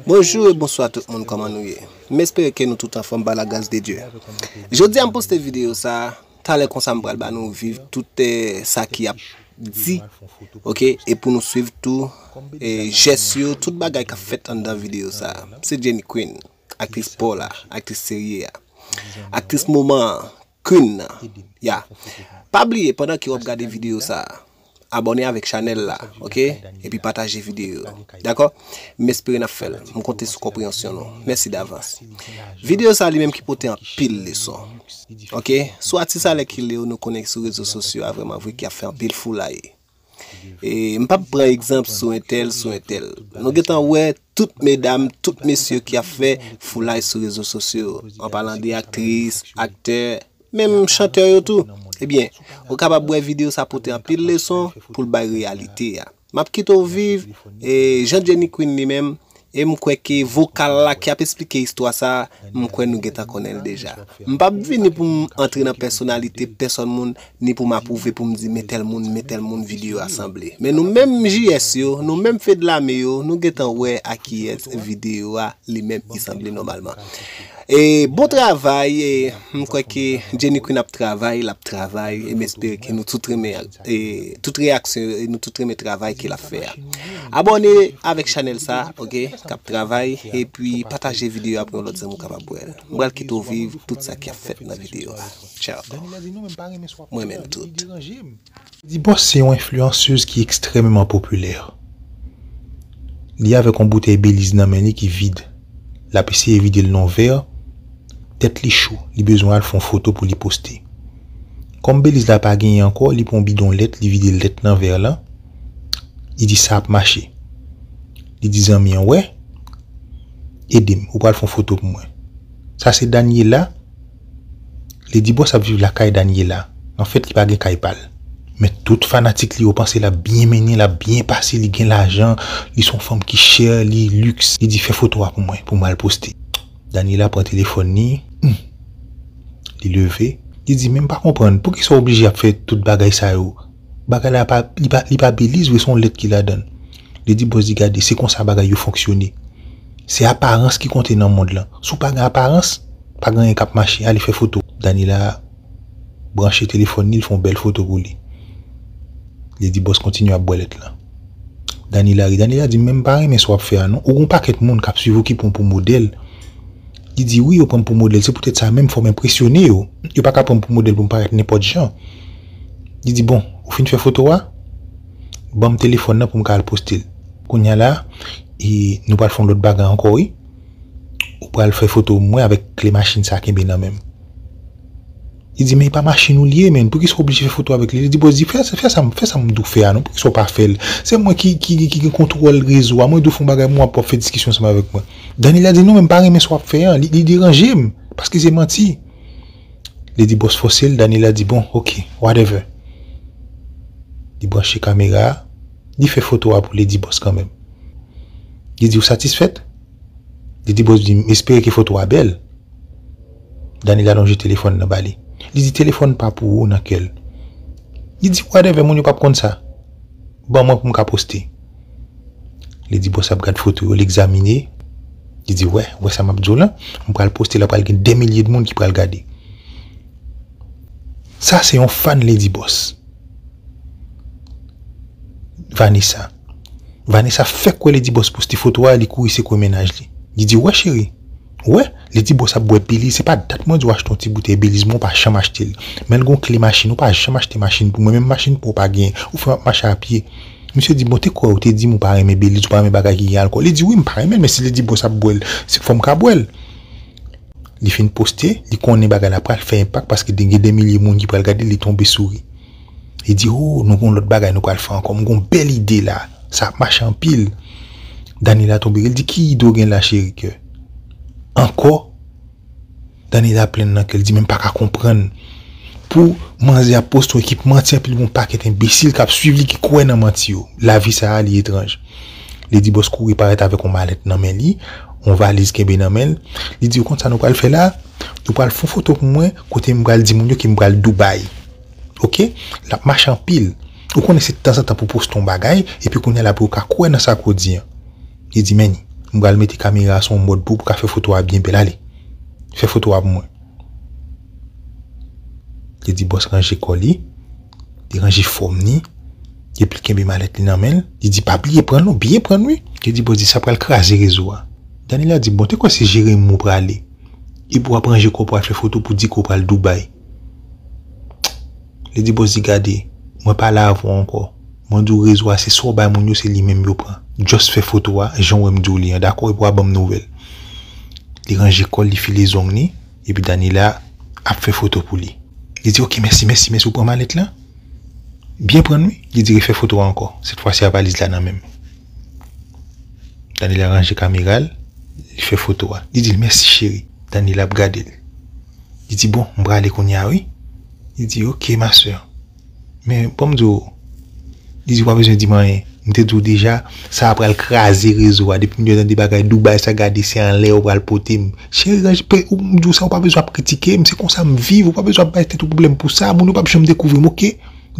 Bonjou e bonswa tout moun kòman nou ye m espere ke nou tout anfòm pa la gras de Dye jodia m poste video sa talè konsa m pral ba nou viv tout sa ki ap di ok e pou nou swiv tou jès yo tout bagay kap fèt anndan video sa se Jenny Queen aktris paw la aktris serye a aktris moman an. Queen nan ya pa bliye pandan ke wap gade video sa abone avek chanel la ok epi pataje video yo dako m espere nap fel m konte sou konpreyansyon nou mèsi davans video sa li menm ki pote anpil leson ok sou atis alèkile yo nou konnen sou rezo sosyo a vreman vre ki ap fè anpil foulay. M pap pran egzanp sou entèl, sou entèl. Nou gentan wè tout medam, tout mesye ki ap fè foulay sou rezo sosyo, an palan de aktris, aktè, menm chantè yo tou. Ebyen, ou kapab wè videyo sa pote anpil leson pou l bay reyalite a. M ap kite w viv, e jan Jenny Queen li menm, E m kwè ke vokal la ki ap esplike istwa sa a, m kwè nou gentan konnen l deja. M p ap vini pou m antre nan pèsonalite pèsòn moun, ni pou m apwouve pou m di men tèl moun, men tèl moun videyo a sanble. Men nou menm JS yo, nou menm Fedlame yo, nou gentan wè a kiyès videyo a li menm i sanble nòmalman. E bon travay, e m kwè ke Jenny Queen ap travay, l ap travay, e m espere ke nou tout renmen. tout reyaksyon yo e nou tout renmen travay ke lap fè a abòne avèk chanèl sa ok kap travay epi pataje videyo a pou yon lòt zanmi w kapab wèl m pral kite w viv tout sa ki ap fèt nan videyo a tchaw m renmen nou tout. Dibòs se yon enfliyansez ki ekstrèmeman popilè. Li avèk yon boutèy Beliz nan men li ki vid. L ap eseye vide l nan yon vè. Tèt li cho, li bezwen al fè yon foto pou li poste. Kòm Beliz la pa genyen ankò, li pran bidon lèt, li vide lèt nan vè lan, li di sa ap mache. Li di zanmi an wè, ede m, ou pral fè yon foto pou mwen. Sa se Daniela, li di bòs ap viv lakay Daniela, anfèt li pa gen kay pa l. Men tout fanatik li yo panse l ap byen mennen, l ap byen pase, li gen lajan, li se yon fanm ki chè, li lux, li di fè foto a pou mwen, pou m al poste. Daniela pran telefòn li, humm. Li leve, li di men m pa konprann, poukisa w oblije ap fè tout bagay sa yo? Bagay la pa, li pa, li pa Beliz vre, se yon lèt ki ladan l. Li di bòs li gade, se konsa bagay yo fonksyone. Se aparans ki konte nan mond lan. Si w pa gen aparans, pa gen anyen k ap mache, ale fè foto. Daniela. branche telefòn li, li fè yon bèl foto pou li. Li di bòs kontinye ap bwè lèt la. Danila ri. Danila di, men m pa renmen sa w ap fè a non. Ou gen yon pakèt moun k ap suiv ou ki pran w pou modèl. Li di, wi yo pran m pou modèl. Se poutèt sa menm m fò m enpresyone yo. Yo pa ka pran m pou modèl pou m parèt nenpòt jan. Li di, bon, ou fin fè foto a? Ban m telefòn nan pou m ka al poste l. Kounye a la, nou pral fè yon lòt bagay ankò wi. ou pral fè foto mwen avèk kle machin sa kenbe nan menm. Li di men e pa machin ou li ye men, poukisa ou oblije fè foto avèk li? Li di bòs di fè sa m di w fè a non, poukisa ou pa fè l? Se mwen ki gen kontwòl rezo a, mwen di w fè yon bagay men w ap fè diskisyon ansanm avèk mwen. Daniela di non men m pa renmen sa w ap fè an, li deranje m, paske se manti. Li di bòs fòse l, Daniela di bon ok, whatever. Li branche kamera a. Li fè foto a pou Lady Boss kanmenm. Li di ou satisfèt? Lady Boss di m espere ke foto a bèl. Daniela lonje telefòn nan ba li. Li di telefòn pa pou ou nan kè l. Li di whatever moun yo pap konn sa. Ban mwen pou m ka poste. Lady Boss ap gad foto yo, l egzamine. Li di wè, wè sa map di w lan? M pral poste la pral gen dè milye moun ki pral gade. Sa se yon fan Lady Boss. Vanessa Vanessa fèk wè Lady Boss poste foto a li kouri sekwe mennaj li. Li di wè cheri, wè Lady Boss ap bwè Belize se pa dat mwen di w achte yon ti boutèy Belize mwen w pa janm achte l. Men l gen yon kle machin ou pa janm achte machin pou mwen menm machin pa w pa genyen ou fè m ap mache a pye. Misye di bon te kwè ou te di m ou pa renmen Belize ou pa renmen bagay ki gen alkòl li di wi m pa renmen l men si Lady Boss ap bwè l se fò m ka bwè l. Li fin poste, li konnen bagay la pral fè enpak paske gen de milye moun ki pral gade l, li tonbe souri. Li di, O, nou gen yon lòt bagay nou pral fè ankò. M gen yon bèl ide la. Sa ap mache anpil. Daniela tonbe ri, li di, Ki ide w gen la cheri kè? Ankò? Daniela plenn nan kè, li di, Men m pa ka konprann. Pou manzè ap poste yon ekip manti anpi l gen yon pakèt enbesil k ap suiv li ki kwè nan manti yo. Lavi sa a li etranj. Li di bòs kouri parèt avèk yon malèt nan men li, yon valiz kenbe nan men l. Li di yo konn sa nou pral fè la? Nou pral fon foto pou mwen kote m pral di moun yo ke m pral Dubai. Ok? L ap mache anpil. Ou konnen se tanzantan pou w poste yon bagay epi kounye a la pou yo ka kwè nan sa ke w di an. Li di men, m pral mete kamera a sou yon mòd pou w pou w ka fè foto a byen bèl ale. Fè foto a pou mwen. Li di bòs ranje kò li, li ranje fòm ni, epi li kenbe malèt li nan menl, li di pa bliye pranl non, bliye pranl wi. Li di bòs di sa pral kraze rezo a. Daniela di bon te kwè se Jeremi ou prale, epi wap ranje kò pral fè foto pou di ke ou pral Dubai. Li di bòs di gade, mwen pa la avèw ankò, mwen diw rezo a se sa ou bay moun yo se li menm yo pran, just fè foto a janw wèm diw li an dakò epi wap banm nouvèl. Li ranje kòl, li file zong li. Epi Daniela ap fè foto pou li. Li di, Ok, mèsi, mèsi, mèsi. Ou pran malèt lan? Byen pran l, wi. Li di, Refè foto a ankò. Sètfwasi a valiz la nan men m. Daniela ranje kamera l, li fè foto a. Li di l, Mèsi, cheri. Daniela ap gade l. Li di, Bon, m prale kounye a, wi. Li di, Ok, ma sè. Men poum di w, li di ou pa bezwen di m anyen. M te di w deja, sa a pral kraze rezo a. Depi m te tande bagay Dubai sa gade se anlè yo pral pote m. Cheri ranje peyi ou, m di w sa ou pa bezwen ap kritike m, se konsa m viv ou pa bezwen ap bay tèt ou pwoblèm pou sa, moun yo pap janm dekouvri m ok.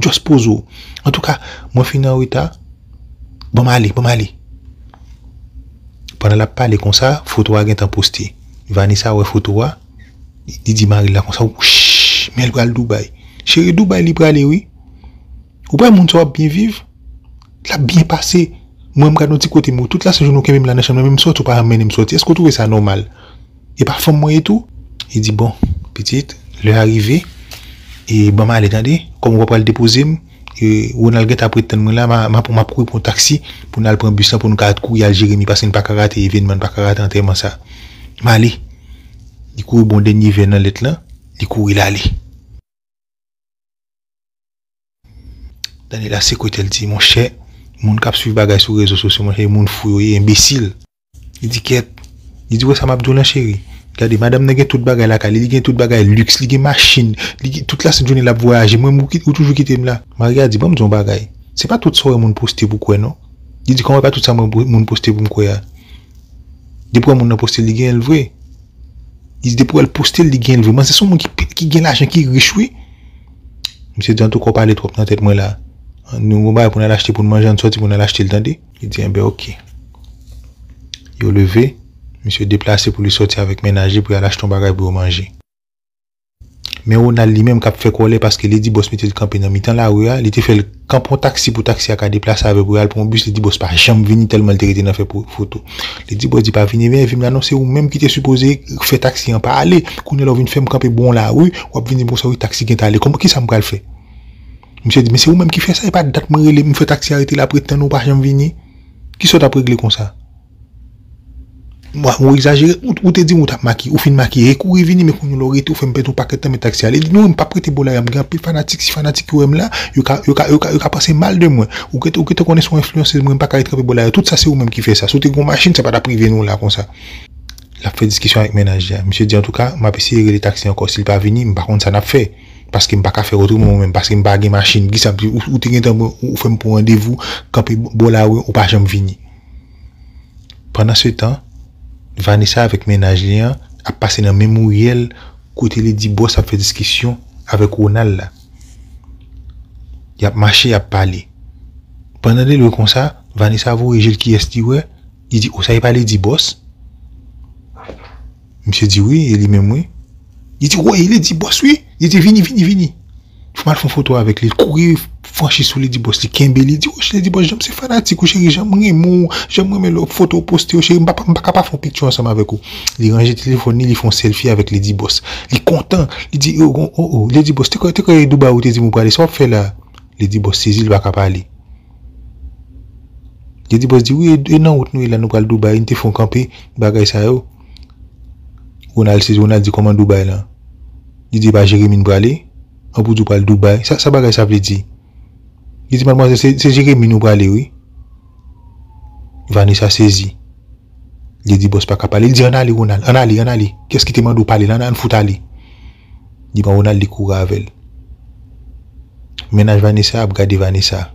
Just poze w. Antouka, mwen fin an reta, ban m ale, ban m ale. Pandan l ap pale konsa, foto a gentan poste. Vanessa wè foto a. Li di maril la konsa wouch menl pral Dubai cheri Dubai li prale wi ou pa wè moun sa wap byen viv lap byen pase mwen m gad yon ti kote m wè tout la sejoune ou kenbem la nan chanm nan menm soti ou pa janm mennenm soti èske ou twouve sa nòmal e pa fanm mwen ye tou li di bon pitit lè a rive e banm ale tande kòm ou pa pral depozem. Ronald gentan ap ret tann mwen la, map kouri pran yon taksi pou n al pran bis lan pou nou ka kouri al Jeremi paske n pa ka rate evènman, n pa ka rate antèman sa. M ale. Li kouri ba w dènye vè nan lèt lan, li kouri l ale. Daniela sekwe tèt l di, monchè, moun k ap swiv bagay sou rezo sosyo monchè, moun fou yo ye, enbesil. Li di kèt, li di wè sa map diw lan cheri, gade madam nan gen tout bagay lakay li, li gen tout bagay luxe, li gen machin, li gen tout la sent jounen lap vwayaje mwen menm ou toujou kitem la. Maria di banm diw yon bagay, se pa tout sa ou wè moun poste pou kwè non, li di kòman e pa tout sa mwen wè moun poste poum kwè a, depi wè moun nan postel li genyenl vre, li di depi wèl postel li genyenl vre, manzè son moun ki gen lajan ki rich wi, misye di antouka ou pale twòp nan tèt mwen la, nou gen yon bagay poun al achte poun manje ann sòti poun al achtel tande. Li di enben ok. Yo leve, misye deplase pou li sòti avèk mennaj li pou y al achte yon bagay pou yo manje. Men Ronald li menm k ap fè kòlè paske li di bòs mete l kanpe nan mitan lari a, li te fè l kanpe yon taksi pou taksi a ka deplase avè l pou y al pran yon bis, li di bòs pa janm vini tèlman l te rete nan fè foto. Li di bòs di pa vini ebyen evim la non se ou menm ki te sipoze fè taksi an pa ale, kounye la ou vin fè m kanpe bò yon lari, w ap vin di m konsa wi taksi gentan ale kòman kisa m pral fè? Misye di, men se ou menm ki fè sa, epa dat mwen rele, m fè taksi a rete la pretan ou pa janm vini. Kisa w t ap regle konsa? Ou egzajere, ou te di m ou t ap makiye, ou fin makiye e kouri vini men kounyela w rete ou fè m pèdi yon pakèt tan men taksi a ale. Li di, non m p ap rete bò la a, m gen anpil fanatik, si fanatik yo wè m la, yo ka, yo ka, yo ka panse mal de mwen. Ou gen, ou gen tan konnen se yon enfliyansez mwen, m pa ka ret kanpe bò la a, tout sa se ou menm ki fè sa. Si w te gen yon machin, sa pa t ap rive nou la konsa. L ap fè diskisyon avèk menaj li a. Misye di, antouka, m ap eseye rele taksi ankò, si l pa vini, m pa konn sa n ap fè. Paske m paka fè otreman mwen menm paske m pa gen machin kisa m te ou te gentan pran ou fè m pou randevou kanpe bò lari ou pa janm vini. Pandan se tan Vanessa avèk mennaj li an ap pase nan menm riyèl kote li di bòs ap fè diskisyon avèk Ronald la. Y ap mache y ap pale. Pandan li lwe konsa Vanessa voye je l kiyès li wè li di o sa e pa li di bòs. Misye di wi, e li menm wi. Li di woy, li di bòs wi. Li di vini, vini, vini. Fè m al fè yon foto avèk li. Li kouri franchi sou li di bòs li kenbe li. Li di woy cheri, li di bòs jan m se fanatik ou cheri, jan m renmen ou, jan m renmen lè w foto w poste yo cheri, m pa ka pa fè yon picture ansanm avèk ou. Li ranje telefòn li, li fè yon selfie avèk li di bòs. Li kontan, li di oh, oh, oh. Li di bòs te kwè, te kwè e Dubai ou te di m ou prale, sa w ap fè la a? Li di bòs sezi li pa ka pale. Yo di bòs di wi e nan wout nou ye la nou pral Dubai nou te fon kanpe bagay sa yo Ronald se Ronald di kòman Dubai lan li di e pa Jeremie n prale an pou di w pral Dubai sa bagay sa vle di li di madmwazèl se se Jeremie nou prale wi Vanessa sezi li di bòs paka pale li di an ale Ronald an ale an ale kiyès ki te mande w pale la an fout ale. Li pran Ronald li kouri avèl. Mennaj Vanessa ap gade Vanessa.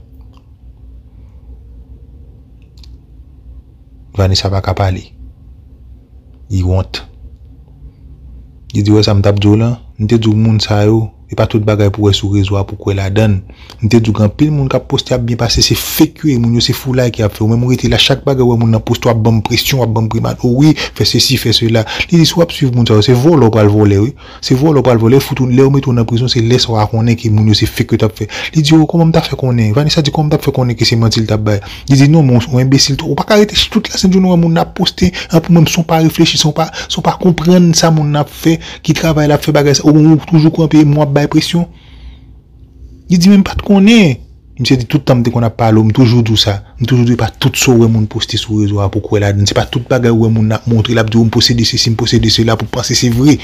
Vanessa pa ka pale. Li wont. Li di ou wè sa m tap di w lan? M te di w moun sa yo, e pa tout bagay pou wè sou rezo a pou kwè ladann. M te di w gen anpil moun kap poste ap byen pase se fake yo ye moun yo se foulay ki ap fè ou menm ou rete la chak bagay ou wè moun nan poste wap banm presyon wap banm grimad o wi fè sesi fè sela li di si wap swiv moun sa yo se vòlè ou pral vòlè wi se vòlè ou pral vòlè yo fout ou lè yo mete w nan prizon se lèsa wa konnen ke moun yo se fake yo tap fè li di o kòman m ta fè konnen Vanessa di kòman m tap fè konnen ke se manti li tap bay li di non men ou enbesil twòp ou paka rete tout la sent jounen wè moun nan ap poste an pou menm si w pa reflechi si w pa si w pa konprann sa moun nan ap fè ki travay lap fè bagay sa ou menm ou toujou kanpe moun ap bay presyon. Li di men m pat konnen. Misye di tout tan m te konn ap pale w m toujou di w sa. M toujou di w e pa tout sa w wè moun poste sou rezo a pou w kwè ladan l. Se pa tout bagay ou wè moun nan ap montre l ap di w m posede sesi m posede sela pou w panse se vre.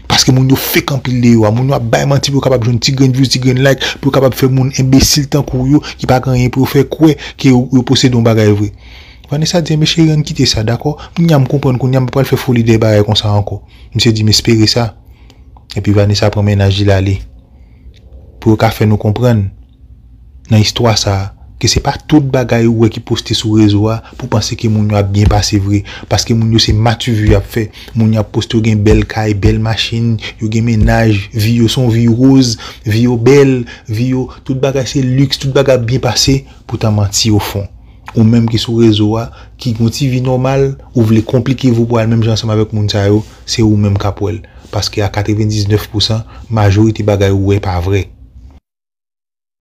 Paske moun yo fake anpil deyò a. Moun yo ap bay manti pou yo kapab jwenn ti grenn views, ti grenn like, pou yo kapab fè moun enbesil tankou w yo ki pa gen anyen pou yo fè kwè ke yo posede yon bagay vre. Vanessa di enben cheri an n kite sa dakò. Kounya m konprann kounya m pa pral fè foli dèyè bagay konsa ankò. Misye di m espere sa. Epi Vanessa pran mennaj li l ale. pou yo ka fè nou konprann nan istwa sa ke se pa tout bagay ou wè ki poste sou rezo a pou panse ke moun yo ap byen pase vre paske moun yo se matuvu y ap fè moun yo ap poste yo gen bèl kay bèl machin yo gen mennaj vi yo se yon vi roz vi yo bèl vi yo tout bagay se lux tout bagay ap byen pase poutan manti o fon ou menm ki sou rezo a ki gen yon ti vi nòmal ou vle konplike vi w pou al menm jan ansanm avèk moun sa yo. se ou menm kap wèl paske a 99 pousan majorite bagay ou wè pa vrè.